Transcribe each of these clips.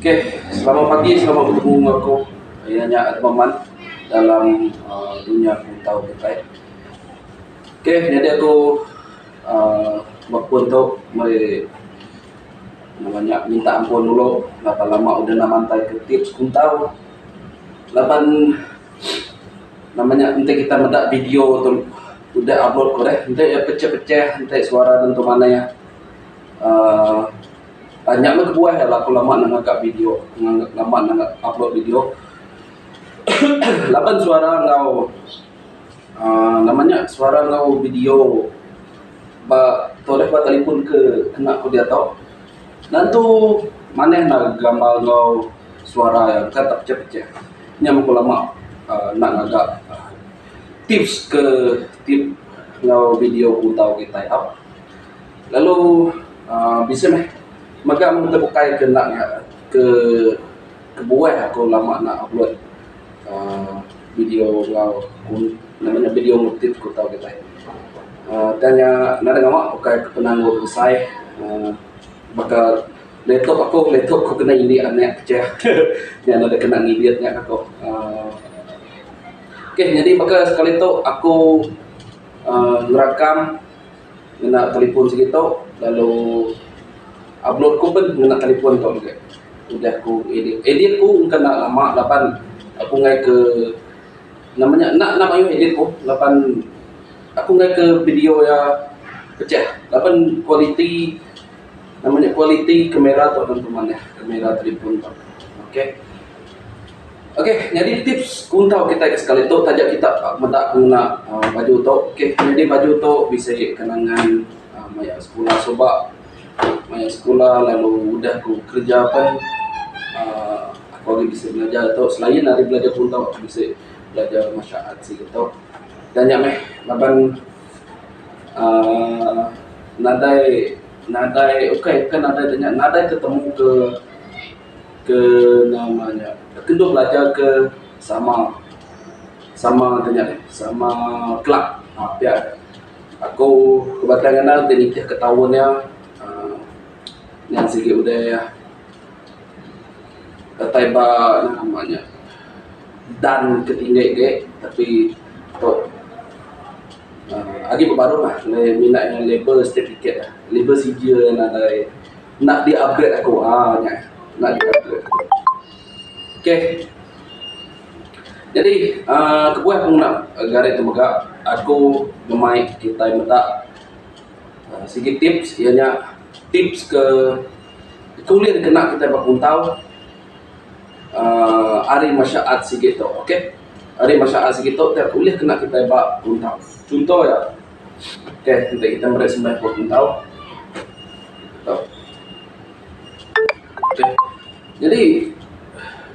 Ok selamat pagi selamat betemu enggau aku iya nya Mamat dalam uhh dunya pengetahuan kitai. Ok nyadi aku uhh ba pun tu meri nama nya minta ampun dulu laban lama udah mantai kritip sekuntau laban. Nama nya enti kita meda video tu udah upload ko reh enti iya pecah pecah enti suara ne ento manah uhh nya meh kebuah iya aku lama ne ngaga video lama ne upload video uhh laban suara enggau uhh nama nya suara enggau video ba tu reh ba talipon ke kena ku diatu. Nentu maneh enda gambar enggau suara iya ka dep picit picit. Nya meh ku lama uhh enda ngaga tips ke tip enggau video ku tau agi tie up. Lalu uhh bisi meh mega meh te bukai ke enda ke kebuah aku lama enda upload. uhh video enggau nama nya video mutip ku tau kitai uhh tang iya nadai ngawa ukai ku pernah nengah besai uhh baka laptop aku laptop ku kena indi anek pecah nya nadai kena ngibit nya ku uhh okay nyadi baka sekali tu aku uhh ngerakam. ngena telefon sigi tok lalu upload ku pun ngena telefon tok agi udah ku edit edit ku engka enda lama laban aku enggai ke nama nya enda enda mayuh edit ku laban aku enggai ke video iya pecah laban kualiti nama nya kualiti kamera tok den pemanah kamera telefon tok ok. Ok nyadi tips kungkau kitai ke sekali tu taja kita meda ku ngena baju tu ok nyadi baju tu bisi kenangan maya sekula suba maya sekula lalu udah ku kerja pen uhh aku agi bisi belajar tu selain ari belajar kungkau aku bisi belajar macha art sien tu da nya meh laban uhh nadai nadai ukai ukai nadai da nya nadai tetemu ke. ke nama nya kenu belajar ke sama sama ke nya nih sama club uhh pia aku kebantai ngadan ti nitihka taun iya uhh nya sigi udah iya datai ba nama nya dan ke tinggi gek tapi to uhh agi baru mah mina iya label certificate label sigi nadai. Enda di upgrade aku haa nya. Enda di upgrade aku. Okay. Jadi aa kebuah aku ngena gari tu mega aku nyemai kitai meda sigi tips iya nya tips ke ke ulih dikena kitai ba kuntau aa ari masyaat sigi tu. Okay. Ari masyaat sigi tu tiap ulih kena kitai ba kuntau. Chunto iya. Ok enti kita meri sembah ku tau tau ok jadi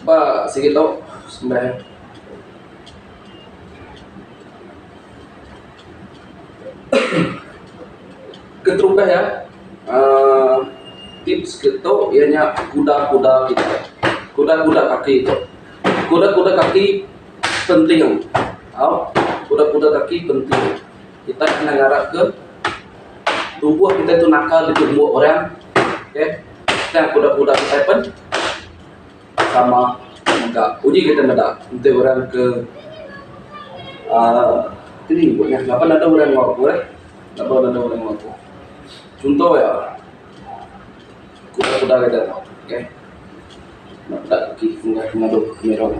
ba sigi tu sembah eh keterubah iya uhh tips ke tu iya nya kuda-kuda kitai kuda-kuda kaki tu kuda-kuda kaki. Penting tau kuda-kuda kaki penting kitai kena ngarap ke tubuh kitai tu nakal ditu umbo orang okay tang kuda-kuda kitai pen sama mega uji kitai meda enti orang ke uhh kini laban ada orang ngawa ku eh laban ada orang ngawa ku chunto iya. Ku peda ke dau okay enda peda agi tundah ngadu ke mih rau.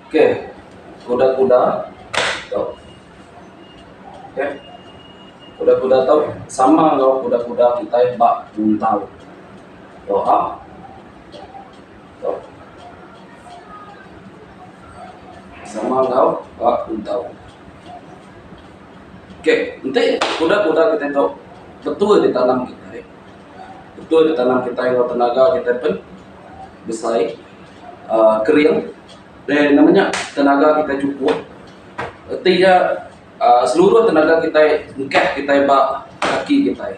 Okay kuda kuda tau okay kuda kuda tau sama enggau kuda kuda kitai ba buntal tau ha. Sama enggau ba untau. K. Enti kuda-kuda kitai tu betul ditanam kitai, betul ditanam kitai enggau tenaga kitai pen besai aaa kering deh nama nya tenaga kitai chuput reti iya aaa seluruh tenaga kitai engkah kitai ba kaki kitai.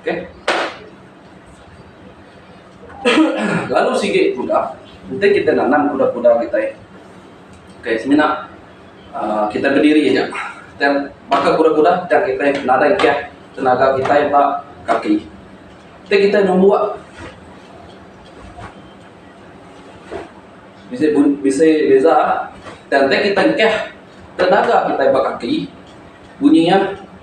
Okey. Lalu sigi pula, enti kita nanam kuda-kuda kitai, okey, semina aaa kita bediri aja. Tang baka kuda-kuda tang kitai nadai kiah tenaga kitai ba kaki. Enti kita nembuak bisi bun bisi beza tang enti kita kiah tenaga kitai ba kaki bunyi iya.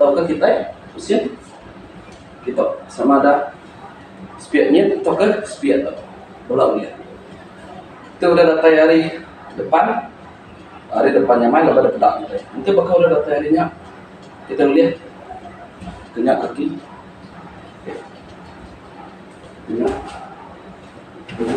Tau ke kitai usin kita sama ada spirit nyin tau ke spirit tu bala ulih. Tu udah datai hari depan hari depan nyamai laban dep peda kitai. Enti baka udah datai hari nya kitai ulih ke nya ke agi ke nya ke nya.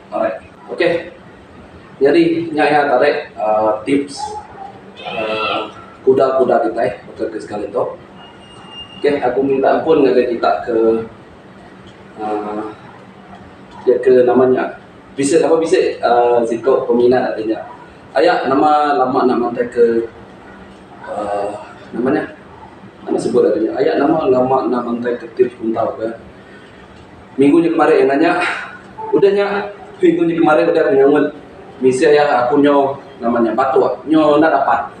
Alright ok nyadi nya iya tarik uhh tips uhh kuda kuda kitai baka ke sekali tok ok aku minta ampun ngagai kita ke uhh pia ke nama nya bisi aba bisi uhh siko peminat ati nya aya nama lama nak matai ke uhh nama nya nama sebut ati nya aya nama lama nak matai ke tips kumbau ke. Minggu nya kemari iya nanya. Udah nya, minggu nya kemari udah ku nyangut. Bisi iya aku nyau nama nya batuk. Nyau enda dapat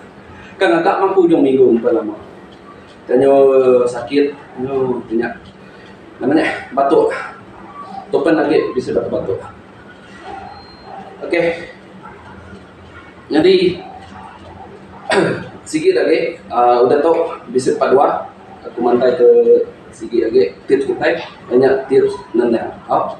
ka ngaga mangku ujung minggu empai lama. Udah nyau sakit nyau ti nya nama nya batuk. Token agi bisi batu batuk. Okay. Nyadi sigi lagi uhh udah tu bisi padu aku mantai ke. Sigi agi tips tu kai, nya tips nendang au.